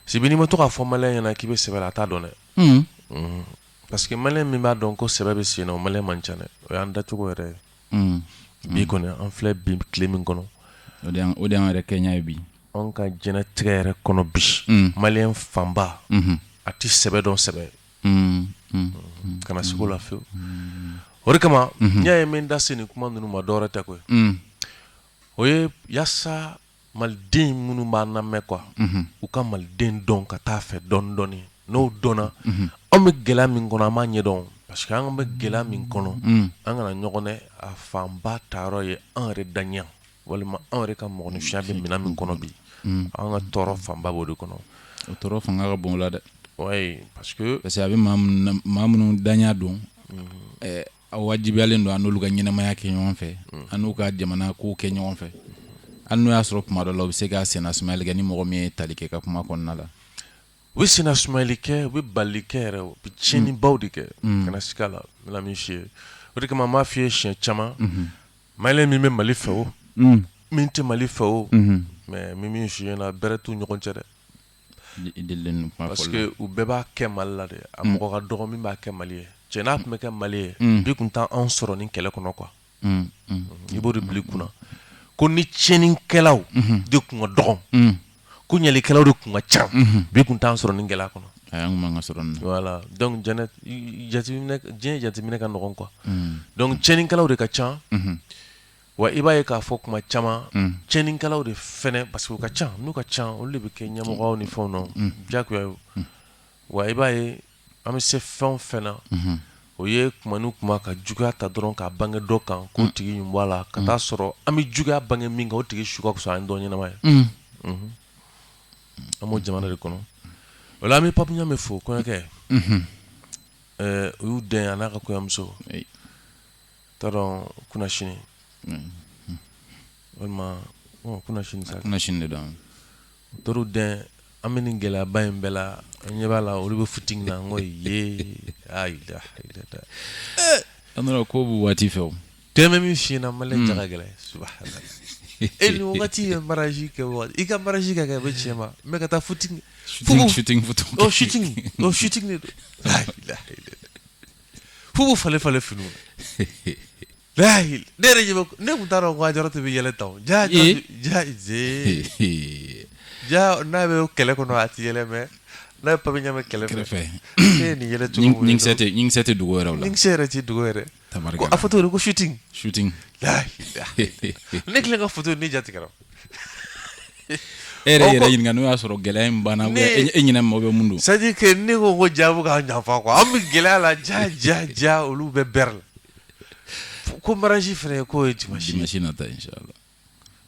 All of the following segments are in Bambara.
Sibi n'i ma to k'a fɔ maliyɛn ɲɛna k'i bɛ sɛbɛ la a t'a dɔn dɛ parce que maliyɛn min b'a dɔn ko sɛbɛ bɛ sen na o maliyɛn man ca dɛ o y'an dacogo yɛrɛ ye bi kɔni an filɛ bi tile min kɔnɔ o de an yɛrɛ kɛɲa ye bi an ka jɛnɛtigɛ yɛrɛ kɔnɔ bi maliyɛn fanba a tɛ sɛbɛ dɔn sɛbɛ kana siga o la fewu o de kama n'i y'a ye n bɛ n da se nin kuma ninnu ma dɔwɛrɛ tɛ koyi o ye yasa maliden minnu b'a lamɛn quoi u ka maliden dɔn ka taa a fɛ dɔɔni dɔɔni n'o dɔnna an bɛ gɛlɛya min kɔnɔ an b'a ɲɛdɔn parce que an bɛ gɛlɛya min kɔnɔ an kana ɲɔgɔn nɛgɛn a fanba taara ye an yɛrɛ daɲa walima an yɛrɛ ka mɔgɔninfinya bɛ minɛn min kɔnɔ bi an ka tɔɔrɔ fanba b'o de kɔnɔ o tɔɔrɔ fanga ka bon a la dɛ parce que parce que an bɛ maa minnu daɲa dɔn A wajibiyalen don an'olu ka ɲɛnamaya kɛ ɲɔgɔn fɛ mm. an n'u ka jamana ko kɛ ɲɔgɔn fɛ an n'o y'a sɔrɔ kuma dɔ la u bɛ se ka sennasumayali kɛ ni mɔgɔ min ye tali kɛ ka kuma kɔnɔna la u bɛ sennasumayali kɛ u bɛ bali kɛ yɛrɛ u bɛ tiɲɛnibaw de kɛ mm. kana siga a la n bɛna min f'i ye o de kama n b'a f'i ye siɲɛ caman mm-hmm. maliyɛn min bɛ mali fɛ o min tɛ mali fɛ o mm-hmm. mais n bɛ min f'i ɲɛna bɛrɛ t'u ɲɔgɔn cɛ dɛ u bɛɛ b'a kɛ mali la dɛ a mɔgɔ ka dɔgɔ min b'a kɛ mali ye cɛ n'a tun bɛ kɛ mali ye bi tun t'an sɔrɔ nin kɛlɛ kɔnɔ quoi i b'o de bila i kunna ko ni tiɲɛnikɛlaw de tun ka dɔgɔ ko ɲalikɛlaw de tun ka ca bi tun t'an sɔrɔ nin gɛlɛya kɔnɔ donc diɲɛ jateminɛ ka nɔgɔn quoi donc tiɲɛnikɛlaw de ka ca Wa i b'a ye k'a fɔ kuma caman tiɲɛnikɛlaw de fɛ parce que u ka ca n'u ka ca olu de bɛ kɛ ɲɛmɔgɔw ni fɛnw na jagoya ye wa i b'a ye an bɛ se fɛn o fɛn na o ye kuma ni kuma ka juguya ta dɔrɔn k'a bange dɔ kan k'o tigi b'a la ka t'a sɔrɔ an bɛ juguya bange min kan o tigi su ka fisa an dɔ ɲɛnama ye an b'o jamana de kɔnɔ o la an bɛ Pape Ɲame fo kɔɲɔkɛ u y'u dɛmɛ a n'a ka kɔɲɔmuso T'a dɔn kunasini walima kunasini sa kunasini de don to dɛmɛ an bɛ nin gɛlɛyaba in bɛɛ la an ɲɛ b'a la olu bɛ shooting na n ko ye an ko bɛ waati fɛ o de n bɛ min f'i ɲɛna maliyɛn ja ka gɛlɛn e nin wagati ye mariage kɛ waati i ka mariage ka kɛ bɛ cɛ ma mɛ ka taa shooting shooting fo u b'u falen falen finiw na lahi ne yɛrɛ ɲɛ bɛ ne tun t'a dɔn ko Ajaratu bɛ yɛlɛ tan o ja ja Ee. ja zee ja n'a bɛ kɛlɛ kɔnɔ a tɛ yɛlɛ mɛ n'a bɛ Pape Ɲame kɛrɛfɛ ne ye nin yɛlɛ cogo min ɲinkisɛ tɛ ɲinkisɛ tɛ tugu yɛrɛ la ɲinkisɛ yɛrɛ tɛ tugu yɛrɛ Tabarikala. ko a foto de ko shooting shooting lahi ne kelen ka foto ne jatigɛra e yɛrɛ yɛrɛ ɲininka n'o y'a sɔrɔ gɛlɛya in banna e ɲɛ na mɔgɔ bɛ mun don c'est à dire que ne ko ko jaabu k'a ɲafa quoi an bɛ gɛlɛya la ja ja ja olu bɛ bɛrɛ la ko mariage fɛnɛ k'o ye dimanche dimanche nata inchallah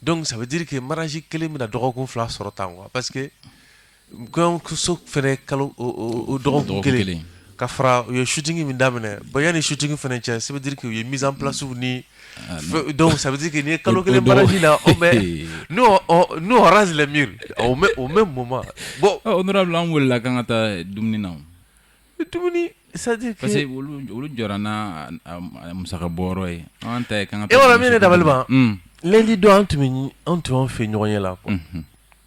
donc ça veut dire que mariage kelen bɛna dɔgɔkun fila sɔrɔ tan quoi parce que Kɔɲɔmuso fana kalo dɔgɔkun kelen ka fara u ye shooting min daminɛ bon yanni shooting fana cɛ ça veut dire que u ye mise en placew ni ça veut dire que nin ye kalo kelen mariage la nous on rase les murs au même moment bon an welela k'an ka taa dumuni na dumuni c'est à dire parce que olu jɔra n'a musaka bɔ ye an ta e yɔrɔ min ne dabali ban lundi don an tun an tun fɛ ɲɔgɔn ye la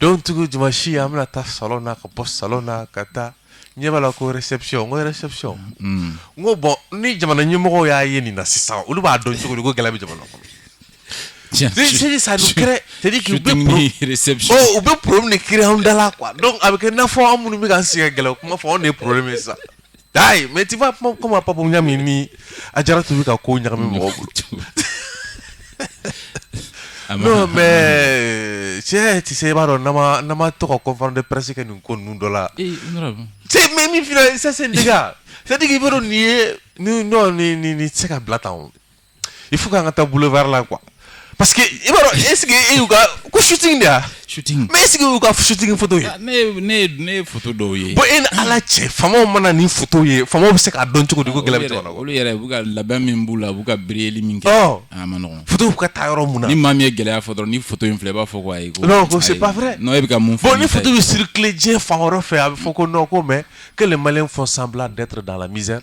Donc tugu dimanche an bɛna taa salon na ka bɔ salon na ka taa ɲɛ b'a la ko réception n ko bon ni jamana ɲɛmɔgɔw y'a ye nin na sisan olu b'a dɔn cogo di ko gɛlɛya bɛ jamana kɔnɔ c'est-à-dire u bɛ problème de créer anw da la donc a bɛ kɛ n'a fɔ anw minnu bɛ k'an sigi ka gɛlɛya kuma fɔ anw de ye problème ye sa Ayi mɛ t'i kuma pap ɲa min ni a jara tun bɛ ka ko ɲagami mɔgɔ mɛ cɛ tɛ se i b'a dɔn nama tɔgɔ kɔn de pɛsi ka nin ko ninnu dɔ la mɛ min fila sese sadi bɛ nin ye ni se ka bila tan il faut k'an ka taa boulevard la quoi parce que i b'a dɔn est-ce que e y'u ka ko shooting de y'a shooting mais est-ce que y'u ka shooting photo ye ah, ne ne ne photo dɔw ye bon e ni ala cɛ faamaw mana nin photo ye faamaw bɛ se k'a dɔn cogo di ko gɛlɛya bɛ jamana kɔnɔ olu yɛrɛ u bɛ ka labɛn min b'u la u b'u ka biriyeli min kɛ oh. ah, a ma nɔgɔn photo bɛ ka taa yɔrɔ mun na ni maa min ye gɛlɛya fɔ dɔrɔn ni photo in filɛ i b'a fɔ ko ayi ko non ko c'est pas vrai non e bɛ ka mun fɔ bon ni photo bɛ circuler diɲɛ fan wɛrɛ fɛ a bɛ fɔ ko non ko mais que les Maliens font semblant d'être dans la misère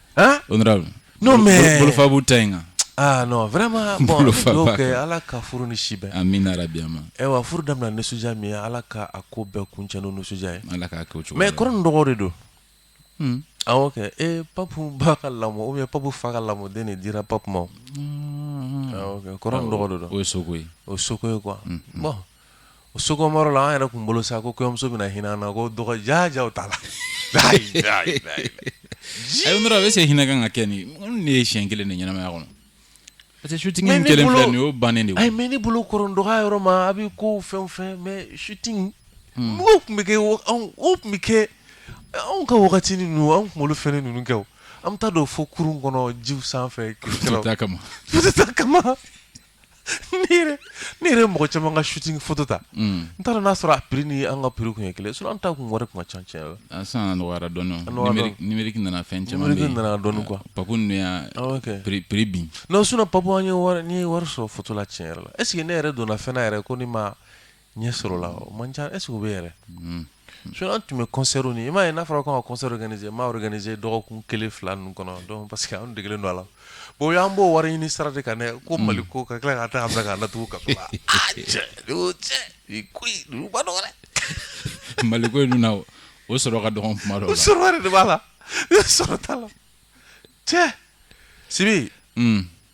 Hein? Honorable. Non, mais. Bolofa b'u ta in kan. Ah non, vraiment. Bon, Bolofa donc, baka. eh, ala ka furu ni si bɛn. Amina yarabi. Ewa, furu damina nisɔndiya min ye, ala ka a ko bɛɛ kuncɛ n'o nisɔndiya ye. Ala k'a kɛ o cogo la. Mais kɔrɔ ni dɔgɔ de don. Hmm. Awɔ kɛ. Eh, papu ba ka lamɔ ou bien papu fa ka lamɔden de dira papu ma. o. Awɔ kɛ. Kɔrɔ ni dɔgɔ de don. O ye soko ye. O ye soko ye quoi. Bon, o soko yɔrɔ la an yɛrɛ tun bolo sa ko kɔɲɔmuso bɛna hinɛ an na ko dɔgɔ ja ja t'a la ayi est-ce que hinɛ kan ka kɛ nin ne ye siɲɛ kelen de ɲɛnamaya kɔnɔ parce que shooting kɛlen nin y'o bannen de ye mais ne bolo kɔrɔ dɔgɔya yɔrɔ ma a bɛ ko fɛn o fɛn mais shooting tun bɛ kɛ tun bɛ kɛ anw ka wagati n'an kunkolo fɛn ninnu kɛ an bɛ taa don fo kurun kɔnɔ ji sanfɛ photo ta kama ne yɛrɛ ye mɔgɔ caman ka shooting photo ta n t'a dɔn n'a sɔrɔ a prix ni an ka prix tun ye kelen ye sinon an ta tun wari tun ka ca tiɲɛ yɛrɛ la sisan a nɔgɔyara dɔɔni numerique numerique nana fɛn caman bɛ yen numerique nana dɔɔni quoi papu ninnu y'a prix prix bin non sinon papu an ye wari n ye wari sɔrɔ photo la tiɲɛ yɛrɛ la est ce que ne yɛrɛ donna fɛn na yɛrɛ ko ne ma Ɲɛ sɔrɔ la o man ca est ce que o bɛ yɛrɛ sinon an tun bɛ concert ni i m'a ye n'a fɔra k'an ka concert organiser n m'a organiser dɔgɔkun kelen fila ninnu kɔnɔ parce que an degelen don a la bon y'an bɔ wari ɲini sira de kan ne ko mali ko ka tila ka taa fɛ ka natugu ka so la cɛ mali ko in dun na o sɔrɔ ka dɔgɔn kuma dɔw la o sɔrɔ yɛrɛ de b'a la sɔrɔ t'a la cɛ sibi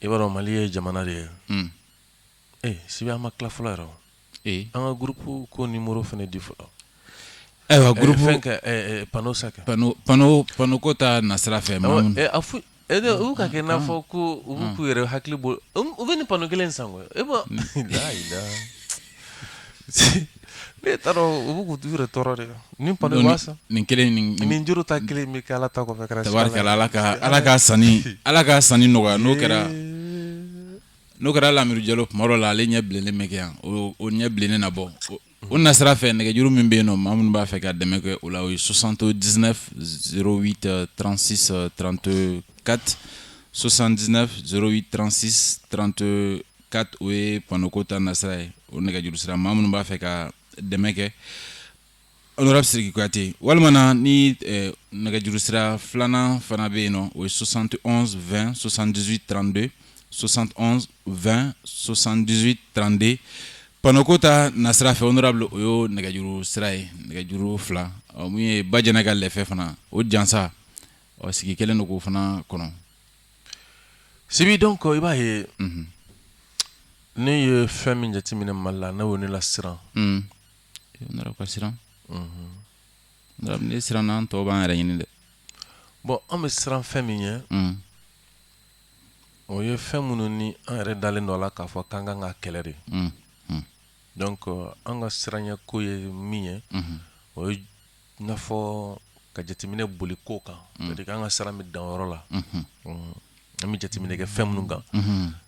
i b'a dɔn mali ye jamana de ye ee sibi an ma tila fɔlɔ yɛrɛ ee an ka groupe ko numéro fana di fɔlɔ ayiwa groupe pano sa pano pano pano ko ta nasira fɛ fo u ka kɛ n'a fɔ ko u b'u k'u yɛrɛ hakili bɔ u bɛ nin pano kelen san e ne t'a dɔn u b'u k'u yɛrɛ tɔɔrɔ de ni pano nin kelen nin juru ta kelen bɛ kɛ ala ta kɔfɛ kɛra ala ka ala ka sanni ala ka sanni nɔgɔya n'o kɛra n'o kɛra lamiru jalo tuma dɔ la ale ɲɛ bilennen bɛ kɛ yan o ɲɛ bilennen na bɔ o nasira fɛ nɛgɛjuru min bɛ yen nɔ maa minnu b'a fɛ ka dɛmɛ kɛ o la o ye soixante dix neuf zéro huit trente six trente quatre soixante dix neuf zéro huit trente six trente Quatre o ye pano ko ta nasira ye o nɛgɛjuru sira maa minnu b'a fɛ ka dɛmɛ kɛ honorable sidiki kuyate walima ni nɛgɛjuru sira filanan fana bɛ yen nɔ o ye soixante et onze vingt soixante dix huit trente deux soixante et onze vingt soixante dix huit trente deux pano ko ta nasira fɛ honorable o y'o nɛgɛjuru sira ye nɛgɛjuru fila min ye ba jɛnɛ ka lɛfɛ fana o jansa ɔ sigi kelen de k'o fana kɔnɔ sibi donc i b'a ye ne ye fɛn min jateminɛ mali la ne y'o ne la siran honorable ka siran honorable ne siranna an tɔw b'an yɛrɛ ɲini dɛ bon an bɛ siran fɛn min ɲɛ o ye fɛn minnu ni an yɛrɛ dalen dɔ la k'a fɔ k'an kan ka kɛlɛ de donc an ka siranɲɛ ko ye min ye o I n'a fɔ ka jateminɛ boli kow kan an ka siran bɛ danyɔrɔ la an bɛ jateminɛ kɛ fɛn minnu kan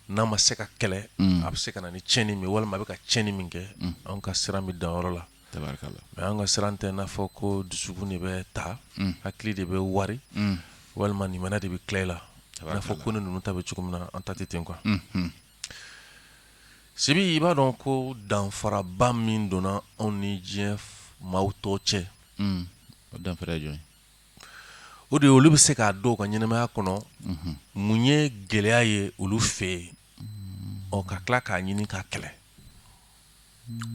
n'a ma se ka kɛlɛ a bɛ se ka na ni ciɲɛni min walima a bɛ ka ciɲɛni min kɛ an ka siran bɛ danyɔrɔ la mais an ka siran tɛ n'a fɔ ko dusukun de bɛ ta hakili de bɛ wari walima limaniya de bɛ tila i la n'a fɔ ko ne ninnu ta bɛ cogo min na an ta tɛ ten quoi Sibi i b'a dɔn ko danfaraba min donna anw ni diɲɛ maa tɔw cɛ o de olu bɛ se k'a dɔn u ka ɲɛnamaya kɔnɔ mun ye gɛlɛya ye olu fɛ yen ɔ ka tila k'a ɲini k'a kɛlɛ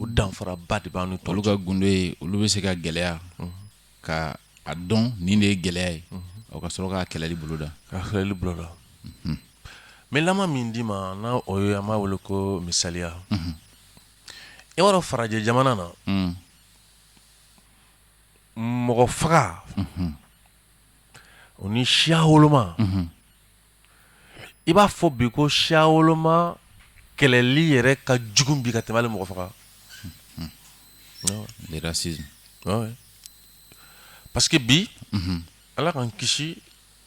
o danfaraba de b'an ni tɔw cɛ olu ka gundo ye olu bɛ se ka gɛlɛya ka a dɔn nin de ye gɛlɛya ye o ka sɔrɔ k'a kɛlɛli boloda k'a kɛlɛli boloda n bɛ lama min d'i ma n'a o ye an b'a wele ko misaliya i b'a dɔn farajɛ jamana na mɔgɔ faga o ni siya woloma i b'a fɔ bi ko siya woloma kɛlɛli yɛrɛ ka jugu bi ka tɛmɛ hali mɔgɔ faga le racisme Ouais. parce que bi ala k'an kisi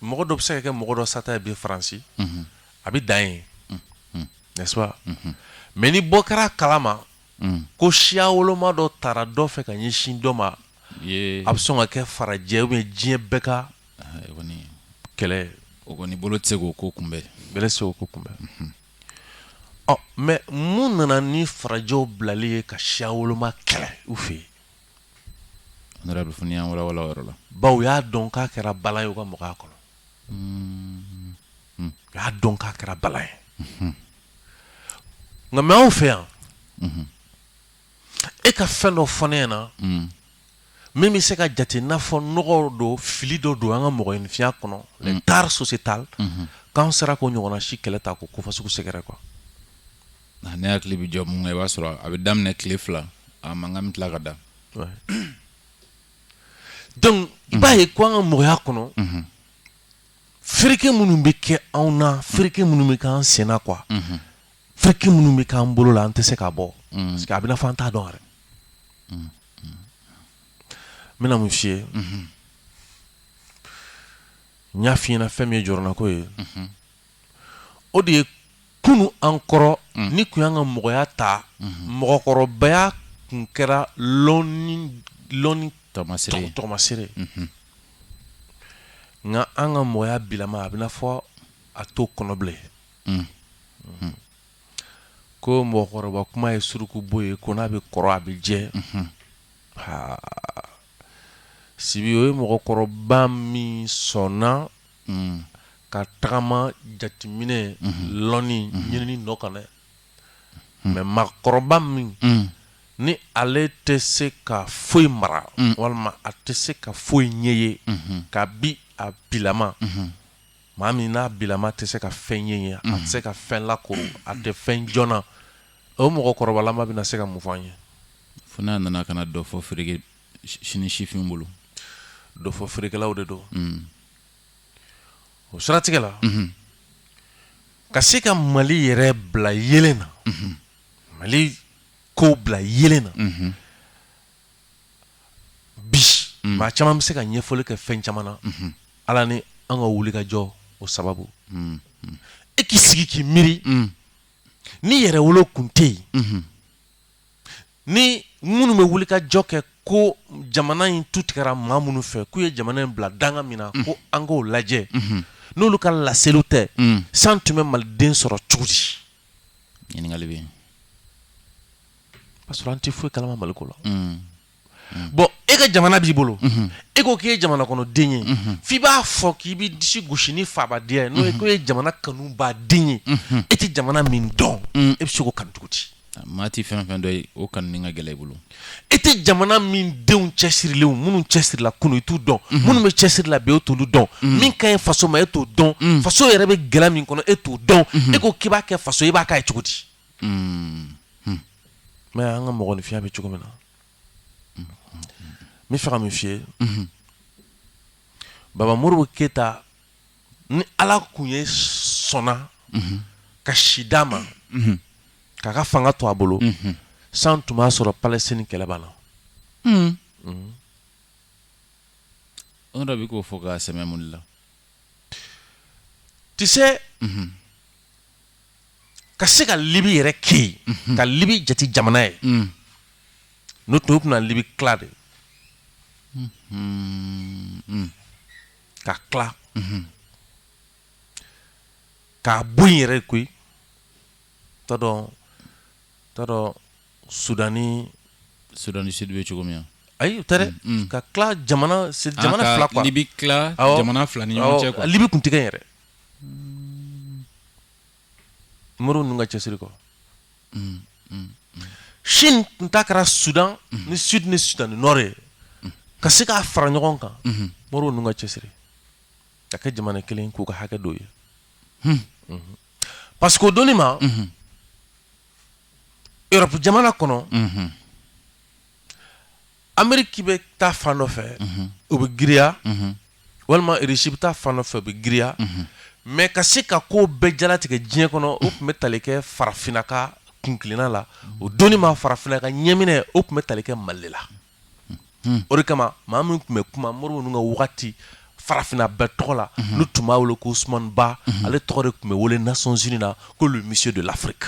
mɔgɔ dɔ bɛ se ka kɛ mɔgɔ dɔ sata ye bi faransi a bɛ dan yen n'est-ce pas mais ni bɔ kɛra a kalama ko siya woloma dɔ tara dɔ fɛ ka ɲɛsin dɔ ma a bɛ sɔn ka kɛ farajɛ ou bien diɲɛ bɛɛ ka kɛlɛ o kɔni bolo tɛ se k'o ko kunbɛn bɛlɛ se k'o ko kunbɛn mhm. ɔ mais mun nana ni farajɛw bilali ye ka siya woloma kɛlɛ u fɛ yen honorable fo n'i y'an walawala o yɔrɔ la bawo u y'a dɔn k'a kɛra bala ye u ka mɔgɔya kɔnɔ mhm. u y'a dɔn k'a kɛra bala ye mhm. nka mais anw fɛ yan e ka fɛn dɔ fɔ ne ɲɛna mm. min bɛ se ka jate n'a fɔ nɔgɔ don fili dɔ don an ka mɔgɔninfinya kɔnɔ mm. les tares sociétales mm-hmm. k'an sera k'o ɲɔgɔnna si kɛlɛ ta k'o ko fasugu sɛgɛrɛ quoi ne hakili bɛ jɔ mun kan i b'a sɔrɔ a bɛ daminɛ tile fila a mankan bɛ tila ka da donc i b'a ye ko an ka mɔgɔya kɔnɔ mm-hmm. fereke minnu bɛ kɛ anw na fereke minnu bɛ kɛ an sen na quoi mm-hmm. fereke minnu bɛ k'an bolo la an tɛ se ka bɔ mm. parce que a bɛna fɔ an t'a dɔn yɛrɛ mm, mm. n bɛna mun f'i ye mm-hmm. n y'a f'i ɲɛna fɛn min ye jɔrɔnako ye mm-hmm. o de ye kunu an kɔrɔ mm. ni tun y'an ka mɔgɔya ta mm-hmm. mɔgɔkɔrɔbaya tun kɛra lɔnni tɔgɔmasere nka an ka mɔgɔya bilama a bɛna fɔ a t'o kɔnɔ bilen Ko mɔgɔkɔrɔba kuma ye suruku bo ye ko n'a bɛ kɔrɔ a bɛ jɛ sibi o ye mɔgɔkɔrɔba min sɔnna ka tagama jateminɛ lɔnni ɲinini nɔ kan dɛ mais maakɔrɔba min ni ale tɛ se ka foyi mara walima a tɛ se ka foyi ɲɛ ye ka bi a bilama maa min n'a bilama tɛ se ka fɛn ɲɛ ye a tɛ se ka fɛn la ko a tɛ fɛn joona o mɔgɔ kɔrɔbalama bɛna se ka mun fɔ an ye fo n'a nana ka dɔ fɔ feere sini sifin bolo dɔ fɔ feerekɛlaw de don mm. o siratigɛ la mm-hmm. ka se ka mali yɛrɛ bila yeelen na mm-hmm. mali ko bila yeelen na mm-hmm. bi maa caman bɛ se ka ɲɛfɔli kɛ fɛn caman na ala ni an ka wuli ka jɔ o sababu e k'i sigi k'i miiri ni yɛrɛwolo kun tɛ yen ni minnu bɛ wuli ka jɔ kɛ ko jamana in tu tigɛra maa minnu fɛ k'u ye jamana in bila danga min na ko an k'o lajɛ n'olu ka laseliw tɛ san tun bɛ maliden sɔrɔ cogo di ɲininkali bɛ parce que an tɛ foyi kalama Mali ko la. Mm. Mm. Bon e ka jamana b'i bolo. Mm-hmm. E ko k'i ye jamana kɔnɔ den ye. Mm-hmm. F'i b'a fɔ k'i b'i disi gosi ni fabadenya ye n'o ye mm-hmm. k'o ye jamana kanu ba den ye. E tɛ jamana min dɔn. Mm. E bɛ se k'o kanu cogo di? Ah, maa tɛ fɛn fɛn dɔn o kanuni ka gɛlɛn i bolo. E tɛ jamana min denw cɛsirilenw minnu cɛsirila kunu i t'u dɔn. Minnu bɛ cɛsiri la bi e t'olu dɔn. Min ka ɲi faso ma e t'o dɔn. Faso yɛrɛ bɛ gɛlɛya min kɔnɔ e t'o dɔn. E ko k'i b'a kɛ faso ye i b'a k'a ye cogo di? Mais an ka mɔgɔninfinya bɛ cogo min na n bɛ fɛ ka min f'i ye baba modibo keyita ni ala tun ye sɔnna ka si d'a ma k'a ka fanga to a bolo san tun b'a sɔrɔ palestine kɛlɛ banna o dɔ bɛ k'o fɔ ka sɛmɛ mun la tɛ ka se ka libi yɛrɛ kɛ ka libi jate jamana ye n'o tun bɛna libi tila de ka tila k'a bɔ yen yɛrɛ koyi t'a dɔn t'a dɔn sudani sudani sidi bɛ cogo min na ayi u tɛ dɛ ka tila jamana ah, jamana fila quoi libi tila jamana fila ni ɲɔgɔn cɛ quoi libi kun tigɛ yɛrɛ Mao ninnu ka cɛsiri kɔ Chine tun ta kɛra Sudan ni Sud ni Sudan ni Nord ye ka se k'a fara ɲɔgɔn kan Mao ninnu ka cɛsiri ka kɛ jamana kelen k'u ka hakɛ dɔw ye parce que o donni ma Europe jamana kɔnɔ Ameriki bɛ taa fan dɔ fɛ o bɛ giriya walima irisi bɛ taa fan fɛ o bɛ giriya mais ka se ka ko bɛɛ jalatigɛ diɲɛ kɔnɔ o tun bɛ tali kɛ farafinna ka kuntilenna la o donni ma farafinna ka ɲɛminɛ o tun bɛ tali kɛ mali la o de kama maa min tun bɛ kuma Modibo ninnu ka waati farafinna bɛɛ tɔgɔ la n'u tun b'a wele ko Ousmane Ba ale tɔgɔ de tun bɛ wele nations unies na ko le monsieur de l'Afrique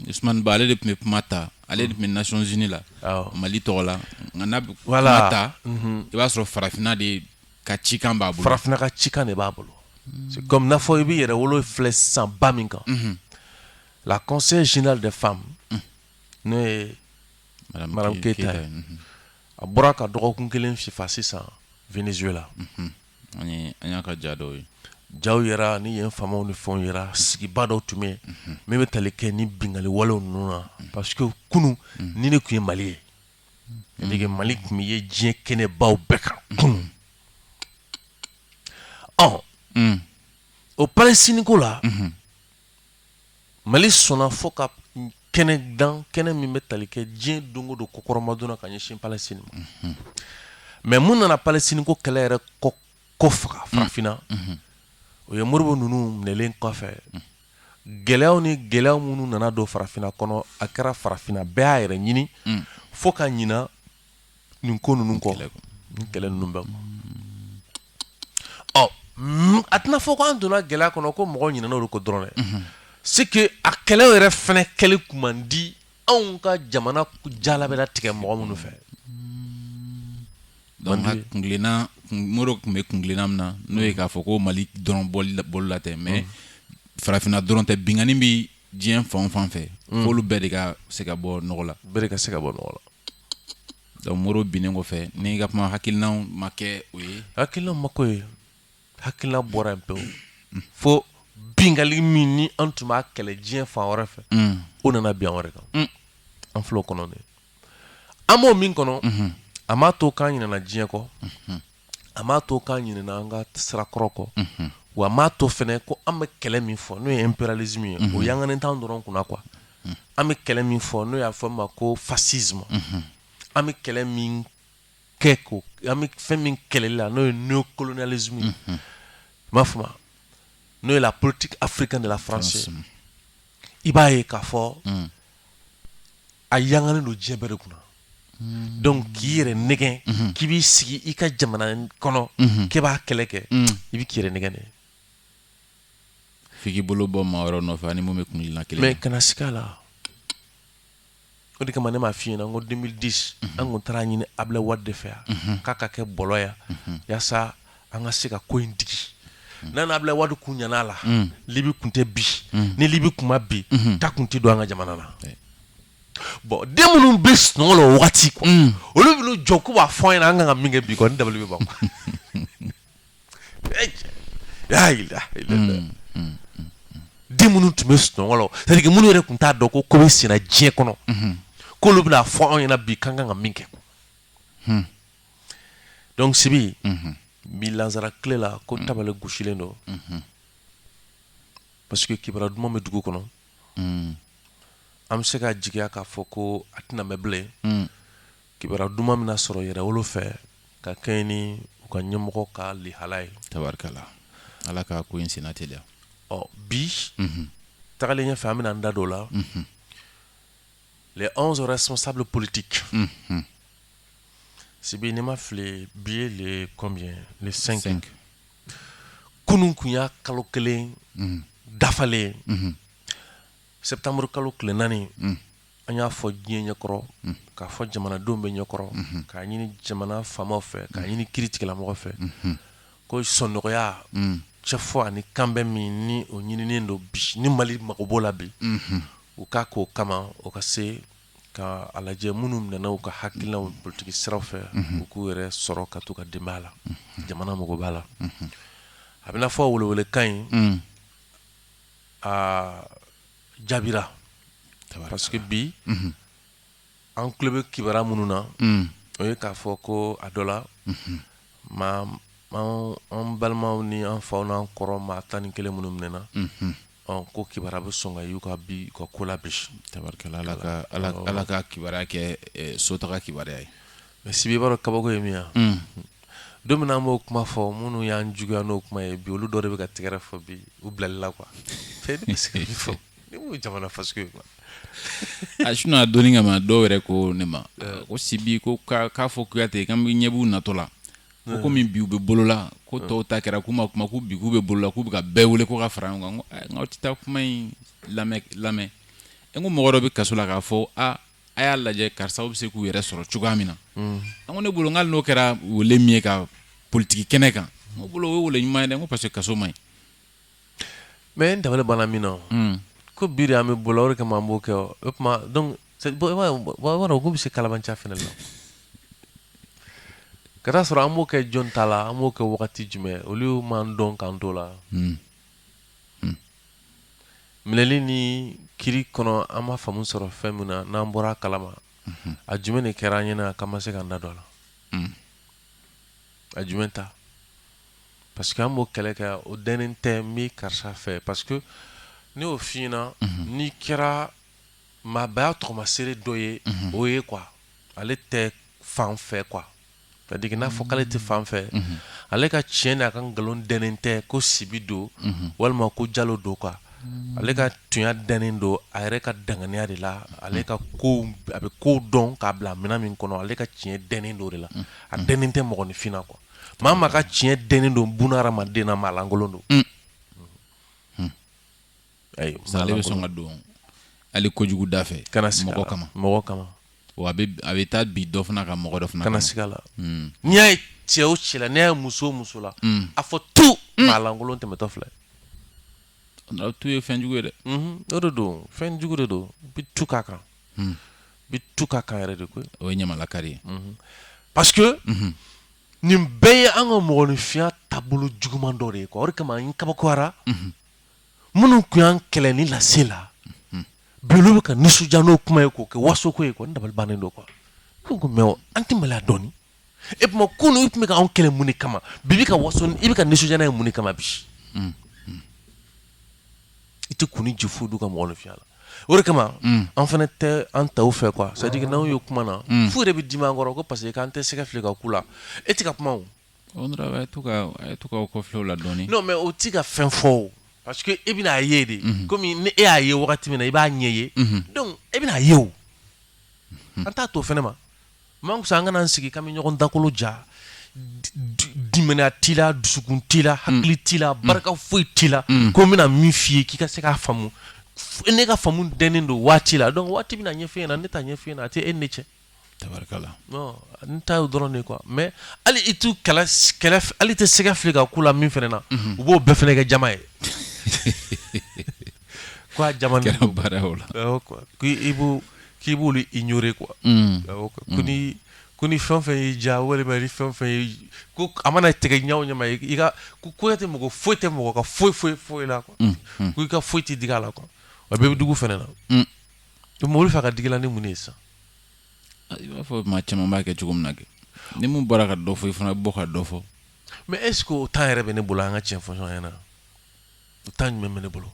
Ousmane Ba ale de tun bɛ kuma ta ale de tun bɛ nations unies la Mali tɔgɔ la nka n'a bɛ kuma ta i b'a sɔrɔ farafinna de ka cikan b'a bolo, farafinna ka cikan de b'a bolo c'est comme n'a fɔ i bɛ Yɛrɛwolo filɛ sisan ba min kan la conseillère générale des femmes n'o ye madame keyita ye a bɔra ka dɔgɔkun kelen fifa sisan Venezuela An y'a ka ja dɔw ye jaw yɛrɛ ni yen faamaw ni fɛnw yɛrɛ sigiba dɔw tun bɛ min bɛ tali kɛ ni bingali wale ninnu na parce que kunun nin de tun ye mali ye c'est-à-dire mali tun bɛ ye diɲɛ kɛnɛ baw bɛɛ kan kunun ɔ o Palestine ko la Mali sɔnna fo ka kɛnɛ dan kɛnɛ min bɛ tali kɛ diɲɛ don o don kɔkɔrɔmadon ka ɲɛsin Palestine ma mais mun nana Palestine ko kɛlɛ yɛrɛ ko faga farafinna o ye Modibo ninnu minɛlen kɔfɛ gɛlɛya ni gɛlɛya minnu nana don farafinna kɔnɔ a kɛra farafinna bɛɛ y'a yɛrɛ ɲini fo ka ɲin nin ko ninnu kɔ kɛlɛ ninnu bɛɛ kɔ a tɛna fɔ ko an donna gɛlɛya kɔnɔ ko mɔgɔw ɲinɛna olu kɔ dɔrɔn dɛ c'est que a kɛlɛ yɛrɛ fana kɛli tun man di anw ka jamana jala bɛ tigɛ mɔgɔ minnu fɛ kuntilenna Modibo tun bɛ kuntilenna min na n'o ye k'a fɔ ko mali dɔrɔn bɔ bolo la tɛ mais farafinna dɔrɔn tɛ binkanni bɛ diɲɛ fan fan fɛ mm. f'olu bɛɛ de ka se ka bɔ nɔgɔ la bɛɛ de ka se ka bɔ nɔgɔ la donc Modibo binnen kɔfɛ ni ka kuma hakilinaw ma kɛ o ye hakilinaw ma k'o ye hakilina bɔra yen pewu mm. fo bingali min ni an tun b'a kɛlɛ diɲɛ fan wɛrɛ fɛ mm. o nana bin an wɛrɛ kan mm. an filɛ o kɔnɔ de an b'o min kɔnɔ mm-hmm. a m'a to k'an ɲinɛna diɲɛ kɔ mm-hmm. a m'a to k'an ɲinɛna an ka sira kɔrɔ kɔ, unhun, wa a m'a to fana ko an bɛ kɛlɛ min fɔ n'o ye impérialisme ye, unhun, o yanganen t'an dɔrɔn kunna quoi unhun, an bɛ kɛlɛ min fɔ n'o y'a fɔ min ma ko fascisme unhun, an bɛ kɛlɛ min kɛ ko an bɛ fɛn min kɛlɛli la n'o ye néocolonialisme ye, unhun, i m'a faamu wa n'o ye la politique africaine de la France ye, i b'a ye k'a fɔ, un a yangalen don diɲɛ bɛɛ de kunna donc k'i yɛrɛ nɛgɛn mhm. k'i b'i sigi i ka jamana kɔnɔ mhm. k'e b'a kɛlɛ kɛ mhm. i bɛ k'i yɛrɛ nɛgɛn de f'i k'i bolo bɔ maa wɛrɛ nɔfɛ ani mun bɛ kunilina kelen mais kana siga a la o de kama ne m'a f'i ɲɛna n ko 2010 an kun taara a ɲini Ablaye Wade de fɛ yan k'a ka kɛ bɔlɔ yan yaasa an ka se ka ko in digi n'a ni Ablaye Wade kun ɲana a la mm. Libi kun tɛ bin mm. ni Libi kun ma bin mm-hmm. ta kun tɛ don an ka jamana na bon den minnu bɛ sunɔgɔ la o wagati quoi mm. olu bɛ n'u jɔ k'u b'a fɔ an ɲɛna an kan ka min kɛ bi kɔni ne dabali bɛ ban quoi den minnu tun bɛ sunɔgɔ la c'est à dire minnu yɛrɛ tun t'a dɔn ko ko bɛ senna diɲɛ kɔnɔ mm-hmm. k'olu bɛna fɔ anw ɲɛna bi k'an kan ka min kɛ quoi. Hmm. donc Sibi bi lansara tile la ko tabale gosilen don parce que kibara duman bɛ dugu kɔnɔ an bɛ se ka jigiya k'a fɔ ko a tɛna mɛn bilen kibara duman bɛna sɔrɔ Yɛrɛwolo fɛ ka kɛɲɛ ni u ka ɲɛmɔgɔ ka lihala ye tabarikala ala ka ko in senna teliya ɔ bi tagalen ɲɛfɛ an bɛna an da don o la les 11 responsables politiques Sibi ni n ma fili bi ye le combien le 5 Cinq. kunun kun y'a kalo kelen Mhm. dafalen Mhm. septembre kalo tile naani Mhm. an y'a fɔ diɲɛ ɲɛkɔrɔ k'a fɔ jamanadenw bɛɛ ɲɛkɔrɔ k'a ɲini jamana faamaw fɛ k'a ɲini kiiritigɛlamɔgɔw fɛ ko sɔnnɔgɔya Mhm. cɛfɔ ani kanbɛn min ni o ɲininen don bi ni Mali mago b'o la bi Mhm. u k'a k'o kama o ka se ka a lajɛ minnu minɛna u ka hakilinaw politigi siraw fɛ u k'u yɛrɛ sɔrɔ ka t'u ka denbaya la jamana mago b'a la a bɛ n'a fɔ welewelekan in a jaabira parce que bi an tulo bɛ kibara minnu na o ye k'a fɔ ko a dɔ la ma an balimaw ni an faw n'an kɔrɔw maa tan ni kelen minnu minɛna Ɔ ko kibara bɛ sɔn ka y'u ka bi u ka ko la bi tabarikala ala ka ala ka kibara kɛ sotaga kibara ye mais Sibi i b'a dɔn kabako ye min ye don min na an b'o kuma fɔ minnu y'an juguya n'o kuma ye bi olu dɔ de bɛ ka tɛgɛrɛ fɔ bi u bilali la quoi fɔ jamana fa ye quoi a sinon dɔnni kama maa dɔw yɛrɛ ko ne ma ko Sibi ko k'a fɔ Kuyate k'an bɛɛ ɲɛ b'u natɔ la ko hmm. komi bi u bɛ bolola ko hmm. tɔw ta kɛra k'u ma kuma ko bi k'u bɛ bolola k'u bɛ ka bɛɛ wele ko ka fara ɲɔgɔn kan n ko eh, aw tɛ taa kuma in lamɛn lamɛn n ko mɔgɔ dɔ bɛ kaso la k'a fɔ a a y'a lajɛ karisaw bɛ se k'u yɛrɛ sɔrɔ cogoya min na hmm. an ko ne bolo n k'ale n'o kɛra wele min ye ka politiki kɛnɛ kan n ko bolo o ye wele ɲuman ye dɛ n ko parce que kaso man ɲi Mais n dabali banna min na ko bi de an bɛ bolo o de kama an b'o kɛ o tuma ko bɛ se kalabanciya fana la ka taa sɔrɔ an b'o kɛ jɔn ta la an b'o kɛ wagati jumɛn olu m'an dɔn k'an to la minɛli ni kiri kɔnɔ an ma faamu sɔrɔ fɛn min na n'an bɔra a kalama a jumɛn de kɛra an ɲɛna k'an ma se k'an da don a la A jumɛn ta parce que an b'o kɛlɛ kɛ o dɛnnen tɛ n bɛ karisa fɛ parce que ne y'o f'i ɲɛna n'i kɛra maabaya tɔgɔmaseere dɔ ye o ye quoi ale tɛ fan fɛ quoi c'est à dire que n'a fɔ k'ale tɛ fan fɛ ale ka tiɲɛ n'a ka nkalon dɛnnen tɛ ko Sibi don walima ko Jalo don quoi ale ka tuɲa dɛnnen don a yɛrɛ ka danganiya de la ale ka ko a bɛ ko dɔn k'a bila minɛn min kɔnɔ ale ka tiɲɛ dɛnnen don de la a dɛnnen tɛ mɔgɔninfin na quoi maa maa ka tiɲɛ dɛnnen don buna hadamaden na maalankolon don ale bɛ sɔn ka don hali kojugu da fɛ mɔgɔ kama a bɛ taa bi dɔ fana ka mɔgɔ dɔ fana kana siga a la n'i y'a ye cɛ o cɛ la n'i y'a ye muso o muso la a fɔ tu maalankolon tɛmɛtɔ filɛ tu ye fɛn jugu ye dɛ o de don fɛn jugu de don bi tu k'a kan bi tu k'a kan yɛrɛ de koyi o ye ɲamalakari ye parce que nin bɛɛ ye an ka mɔgɔninfinya taabolo juguman dɔ de ye quoi o de kama n kabakoyara minnu tun y'an kɛlɛ ni lase la bi olu bɛ ka nisɔndiya n'o kuma ye k'o kɛ wasoko ye quoi n dabali bannen don quoi ne ko mais an tɛ maloya dɔɔni et puis kunu i tun bɛ ka anw kɛlɛ mun de kama bi i bɛ ka waso i bɛ ka nisɔndiya n'a ye mun de kama bi i tɛ kun ni ju foyi d'u ka mɔgɔninfinya la o de kama an fana tɛ an taw fɛ quoi c'est à dire que n'anw ye kuma na f'u yɛrɛ bɛ dimi an kɔrɔ ko parce que k'an tɛ sɛgɛ fili ka k'u la e tɛ ka kuma o mais o tɛ ka fɛn fɔ parce que e bɛna a ye de kɔmi ni e y'a ye wagati min na i b'a ɲɛ ye donc e bɛna a ye o an t'a to o fana ma man kusa an kana an sigi k'an bɛ ɲɔgɔn dakolo ja limaniya t'i la dusukun t'i la hakili t'i la barika foyi t'i la ko n bɛna min f'i ye k'i ka se k'a faamu ne ka faamu dɛnnen don waati la donc waati bɛna a ɲɛfɔ e ɲɛna ne t'a ɲɛfɔ e ɲɛna a tɛ e ni ne cɛ n ta dɔrɔn de quoi mais hali i t'u kɛlɛ hali i tɛ sɛgɛ fili ka k'u la min fana na u b'o bɛɛ fana kɛ jama ye ko jama la k'i k'i b'olu ignorer quoi ko ni fɛn fɛn y'i diya walima ni fɛn a mana tigɛ ɲa o ɲa ma i ka ko tɛ mɔgɔ foyi tɛ mɔgɔ ka foyi foyi foyi la quoi ko i ka foyi tɛ digi a la quoi a bɛɛ bɛ dugu fana na donc olu fɛ ka digi la ni mun ye san I b'a fɔ maa caman b'a kɛ cogo min na kɛ ni min bɔra ka dɔ fɔ i fana bɛ bɔ ka dɔ fɔ mais est-ce que o temps yɛrɛ bɛ ne bolo an ka tiɲɛ fɔ ɲɔgɔn ɲɛna o temps jumɛn bɛ ne bolo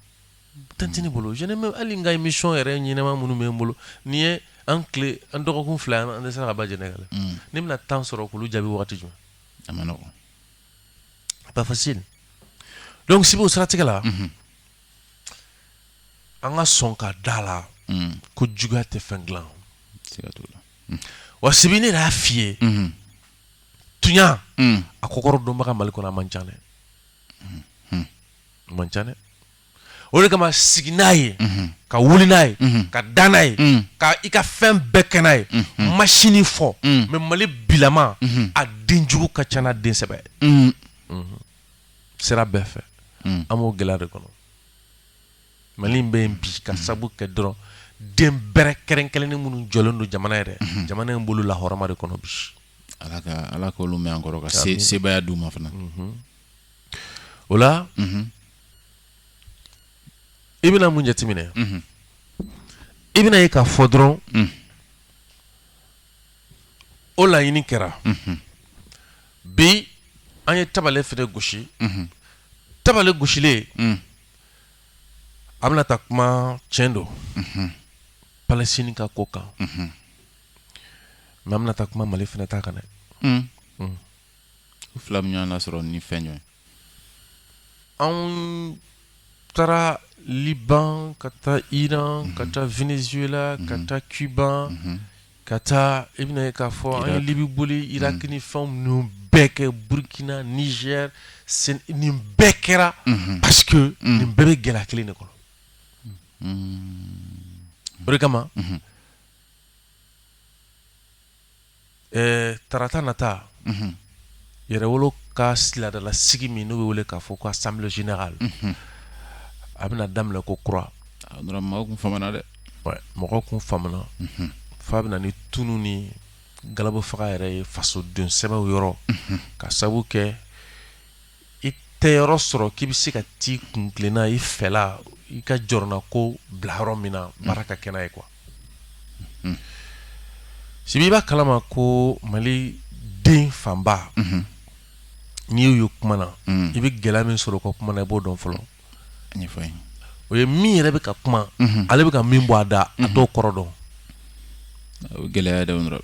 temps tɛ ne bolo hali n ka émission yɛrɛ ɲɛnama minnu bɛ n bolo n'i ye an tile an dɔgɔkun fila an tɛ se ka ba jɛnɛ ne la mm. ne bɛna temps sɔrɔ k'olu jaabi waati jumɛn a man nɔgɔn pas facile donc sibi o siratigɛ la mm-hmm. an ka sɔn ka d'a la mm. ko juguya tɛ fɛn dilan mm. wa sibi ne y'a f'i ye mm-hmm. tuɲa mm. a kɔkɔrɔ dɔnbaga mali kɔnɔ a man ca dɛ mm-hmm. a man ca dɛ o de kama sigi n'a ye mm-hmm. ka wuli n'a ye ka da n'a ye ka i ka fɛn bɛɛ kɛ n'a ye masini fɔ mais mali bilama a den jugu ka ca n'a den sɛbɛ sira bɛɛ fɛ mm. an b'o gɛlɛya de kɔnɔ mali in bɛ yen bi ka sabu kɛ dɔrɔn den bɛrɛ kɛrɛnkɛrɛnnen minnu jɔlen don jamana yɛrɛ mm-hmm. jamana in bolo lahɔrɔma de kɔnɔ bi ala ka ala k'olu mɛn an kɔrɔ ka se sebaya d'u ma fana mm-hmm. o la mm-hmm. i bɛna mun jateminɛ i bɛna ye k'a fɔ dɔrɔn mm. o laɲini kɛra bi an ye tabale fɛnɛ gosi tabale gosilen mm. a bɛna taa kuma tiɲɛ don mm-hmm. palestine ka ko kan mm-hmm. mais an bɛna taa kuma mali fɛnɛ ta kan dɛ mm. u fila min y'a sɔrɔ ni fɛn jumɛn An taara liban ka taa iran ka taa venezuela ka taa cuba ka taa i bɛna ye k'a fɔ an ye libi boli irak ni fɛn ninnu bɛɛ kɛ burukina niger nin bɛɛ kɛra parce que nin bɛɛ bɛ gɛlɛya kelen de kɔnɔ o de kama Ɛɛ tarata nata yɛrɛwolo ka si laadala sigi min n'o bɛ wele k'a fɔ ko assemblée générale a bɛna daminɛ ko kura mɔgɔw kun famana dɛ mɔgɔw kun famana f'a bɛna ni tunun ni galabu faga yɛrɛ ye fasoden sɛbɛw yɔrɔ ka sabu kɛ i tɛ yɔrɔ sɔrɔ k'i bɛ se ka t'i kun tilenna i fɛla i ka jɔrɔnako bila yɔrɔ min na baara ka kɛ n'a ye quoi sibi i b'a kalama ko mali den fanba n'i y'u ye kuma na i bɛ gɛlɛya min sɔrɔ u ka kuma na i b'o dɔn fɔlɔ o ye min yɛrɛ bɛ ka kuma mhm. ale bɛ ka min bɔ a da a mhm. t'o kɔrɔ dɔn gɛlɛya da dɔrɔn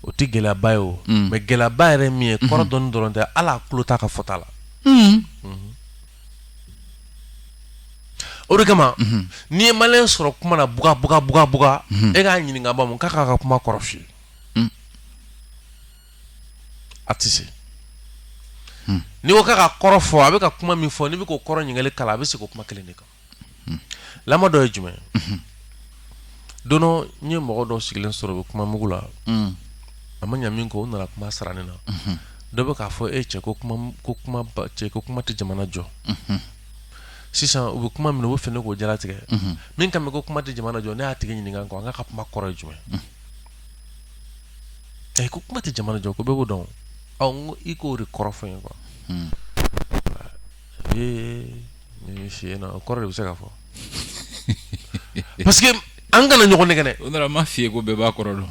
o tɛ gɛlɛyaba ye o mm. mais gɛlɛyaba yɛrɛ min ye mhm. kɔrɔ dɔnni dɔrɔn tɛ hali a tulo t'a ka fɔta la mm. o de kama n'i ye maliyɛn sɔrɔ kuma na buga buga buga buga e k'a ɲininka ba mun k'a k'a ka kuma kɔrɔ f'i ye a tɛ se hmm. n'i ko k'a ka kɔrɔ fɔ a bɛ ka kuma min fɔ n'i bɛ k'o kɔrɔ ɲininkali k'a la a bɛ segin o kuma kelen de kan hmm. lamɔ dɔ ye jumɛn hmm. don dɔ n ye mɔgɔ dɔw sigilen sɔrɔ u bɛ kuma mugu la a ma ɲa min kɛ u nana kuma sara ne na dɔ bɛ k'a fɔ e cɛ ko kuma ko kuma cɛ ko kuma tɛ jamana jɔ sisan u bɛ kuma min u bɛ fɛ ne k'o jalatigɛ min kan bɛ ko kuma tɛ jamana jɔ ne y'a tigi ɲininka ko a ka kuma kɔrɔ ye jumɛn Ɛ ko kuma tɛ jamana jɔ ko bɛɛ b'o dɔn n ko i k'o de kɔrɔ fɔ n ye quoi ee si na o kɔrɔ de bɛ se ka fɔ parce que an kana ɲɔgɔn nɛgɛn o nana ma f'i ye ko bɛɛ b'a kɔrɔ dɔn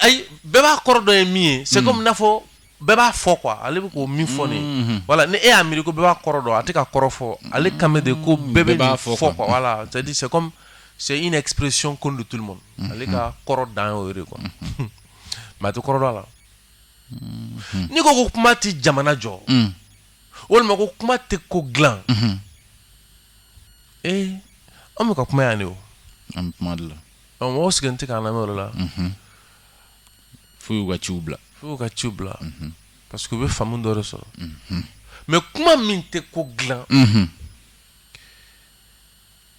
ayi bɛɛ b'a kɔrɔ dɔn ye min ye c'est comme n'a fɔ bɛɛ b'a fɔ quoi ale bɛ k'o min fɔ nin mhm. voilà ni e y'a miiri ko bɛɛ b'a kɔrɔ dɔn a tɛ ka kɔrɔ fɔ ale mhm. kan bɛ de ko bɛɛ bɛ nin fɔ quoi voilà c'est à dire c'est comme c'est une expression connue de tout le monde mhm. ale ka kɔrɔ dan y'o ye de quoi mais a tɛ kɔrɔ dɔn a la n'i ko ko kuma tɛ jamana jɔ walima ko kuma tɛ ko dilan ee an bɛ ka kuma yan de o an bɛ kuma de la mɔgɔw sigilen tɛ k'an lamɛn o de la fo u y'u ka ciw bila fo u y'u ka ciw bila mhm. parce que u bɛ faamu dɔ de sɔrɔ mhm. mais kuma min tɛ ko dilan mhm.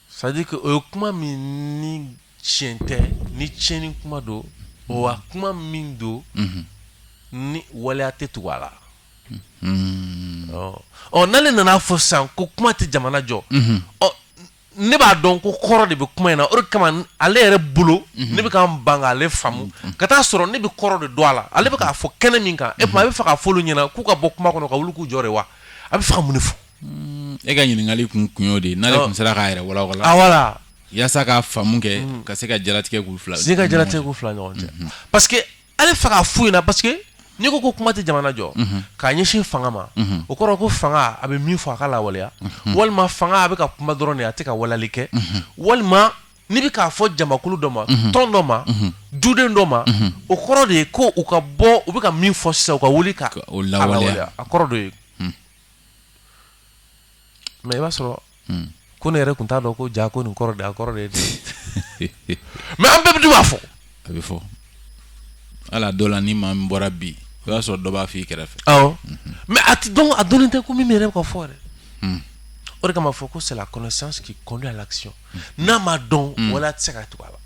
c'est à dire que o ye kuma min ni tiɲɛ tɛ ni tiɲɛni kuma don wa kuma min don ni waleya tɛ tugu a la ɔ n'ale nana a fɔ sisan ko kuma tɛ jamana jɔ ɔ ne b'a dɔn ko kɔrɔ de bɛ kuma in na o de kama ale yɛrɛ bolo mhm. ne bɛ ka n ban k'ale faamu mhm. ka taa sɔrɔ ne bɛ kɔrɔ de don a la ale bɛ k'a fɔ kɛnɛ min kan e a bɛ fɛ k'a fɔ olu ɲɛna k'u ka bɔ kuma kɔnɔ ka wuli k'u jɔ de wa a bɛ fɛ ka mun de fɔ mm, e ka ɲininkali kun y'o de ye n'ale tun sera k'a yɛrɛ walawala yaasa k'a faamu kɛ mm. ka se ka jalatigɛ k'u fila se ka jalatigɛ k'u fila ɲɔgɔn cɛ parce ale fɛ k'a f'u ɲɛna parce que n'i ko ko kuma tɛ jamana jɔ mhm. k'a ɲɛsin fanga ma mhm. o kɔrɔ ko fanga a bɛ min fɔ a k'a lawaleya mhm. walima fanga a bɛ ka kuma dɔrɔn de a tɛ ka walali kɛ walima n'i bɛ k'a fɔ jamakulu dɔ ma tɔn dɔ ma duden dɔ ma o kɔrɔ de ye ko u ka bɔ u bɛ ka min fɔ sisan u ka wuli k'a lawaleya a kɔrɔ de ye mais i b'a sɔrɔ hmm. ko ne yɛrɛ tun t'a dɔn ko jaa ko nin kɔrɔ de a kɔrɔ de ye mais an bɛɛ dun b'a fɔ a bɛ fɔ ala dɔ la ni maa min bɔra bi o y'a sɔrɔ dɔ b'a f'i kɛrɛfɛ awɔ mhm. mais a tɛ dɔn a dɔnnen tɛ ko min yɛrɛ bɛ ka fɔ yɛrɛ hmm. o de kama fɔ ko c'est la connaissance qui conduit à l'action hmm. n'a ma dɔn waleya tɛ se ka tugu a la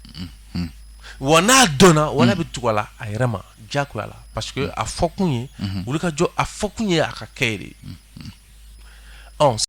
wa n'a dɔnna waleya bɛ tugu a la a yɛrɛ ma ja la pa a fɔ kun ye olu ka jɔ a fɔ kun ye a ka kɛ de ye